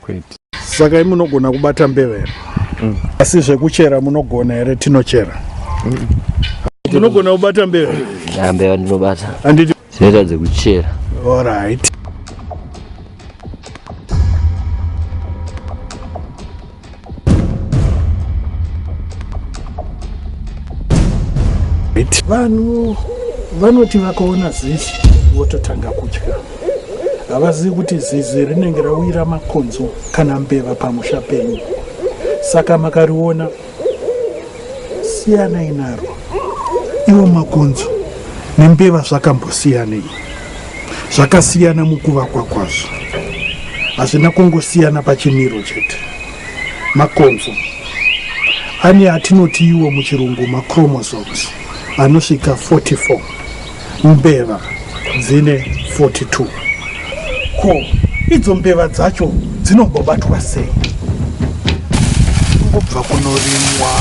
kwete saka imunogona kubata mbeva here mm. asi zvekuchera munogona here tinochera mm. munogona kubata mbeva mbeva ndinobata anditi dzinoita dzekuchera orit vanhu vanoti vakaona zizi vototanga kutya havazivi kuti zizi rinenge rawira makonzo kana mbeva pamusha penyu saka makariona siyanai naro iwo makonzo nembeva zvakambosiyanei zvakasiyana mukuvakwa kwazvo hazvina kungosiyana pachimiro chete makonzo ane atinoti iwo muchirungu machromosomes anosvika 44 mbeva dzine 42 ko idzo mbeva dzacho dzinongobatwa sei kungobva kunorimwa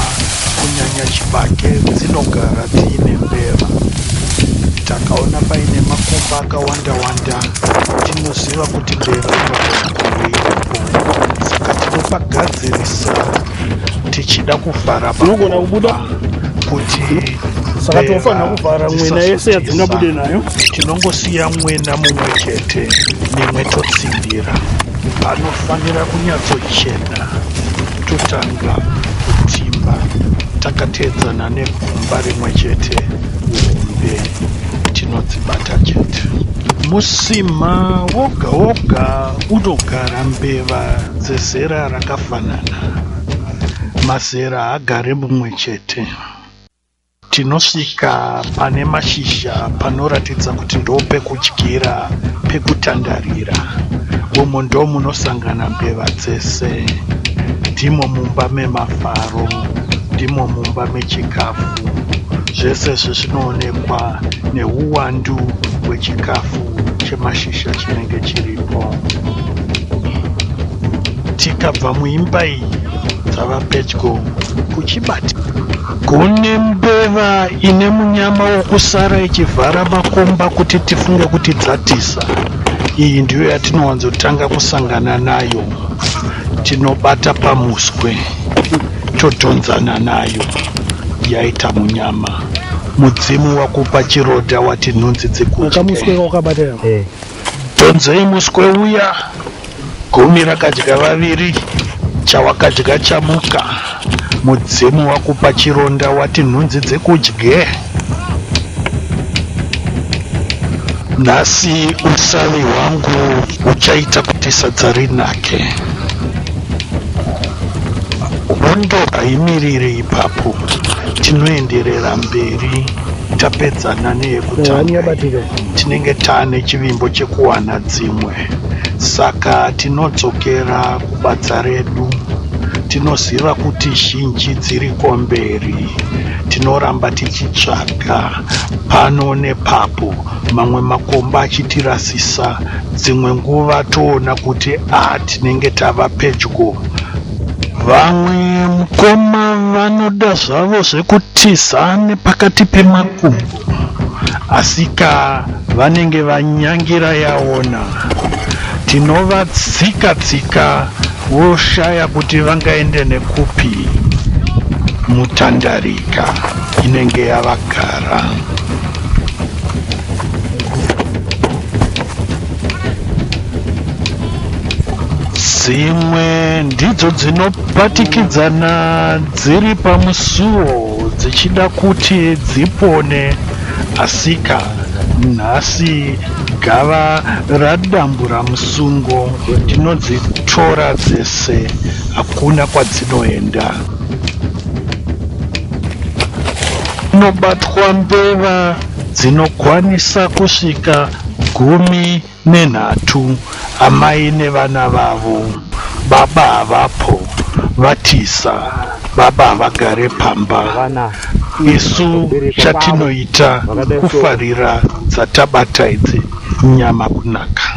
kunyanya chibage dzinogara dziine mbeva takaona paine makomba akawanda wanda tinoziva kuti mbeva inogara kuveiko saka tinopagadzirisa tichida kuvhara unogona kubuda kuti saka tinofanira kuvhara mwena yese yadzingabude nayo tinongosiya mwena mumwe chete mimwe totsindira anofanira kunyatsochena totanga kutimba takateedzana negumba rimwe chete hombe tinodzibata chete musima woga woga unogara mbeva dzezera rakafa Fanana. Mazera haagare mumwe chete. Tinosvika pane mashizha panoratidza kuti ndopekudyira pekutandarira. Umu ndomunosangana mbeva dzese. Ndimo mumba memafaro, ndimo mumba mechikafu. Zvese izvi zvinoonekwa neuwandu hwechikafu chemashizha chinenge chiripo. tikabva muimba iyi dzava pedyo kuchibati kune mbeva ine munyama wokusara ichivhara makomba kuti tifunge kuti dzatiza iyi ndiyo yatinowanzotanga kusangana nayo tinobata pamuswe todhonzana nayo yaita munyama mudzimu wakupa chiroda wati nhunzi dzekuakamuswe wakabatira eh. dhonzei muswe uya Gumi rakadya vaviri, chawakadya chamuka. Mudzimu wakupa chironda wati nhunzi dzikudye. Nhasi usavi hwangu uchaita kuti sadza rinake. Hondo haimiriri ipapo, tinoenderera mberi tapedzana neyekutanga. Tinenge taane chivimbo chekuwana dzimwe. saka tinodzokera kubadza redu tinoziva kuti zhinji dziri komberi tinoramba tichitsvaga pano nepapo mamwe makomba achitirasisa dzimwe nguva toona kuti a tinenge tava pedyo vamwe mukoma vanoda zvavo zvekutiza nepakati pemakumbo Asika vanenge vanyangira yaona. Tinovatsika tsika woshaya kuti vangaende nekupi. Mutandarika inenge yavagara. Dzimwe ndidzo dzinopatikidzana dziri pamusuwo. dzichida kuti dzipone asika nhasi gava radambura musungo tinodzitora dzese hakuna kwadzinoenda dzinobatwa mbeva dzinokwanisa kusvika gumi Nenhatu, amai nevana vavo. Baba havapo, vatiza. Baba havagare pamba. Isu chatinoita kufarira dzatabata idzi nyama kunaka.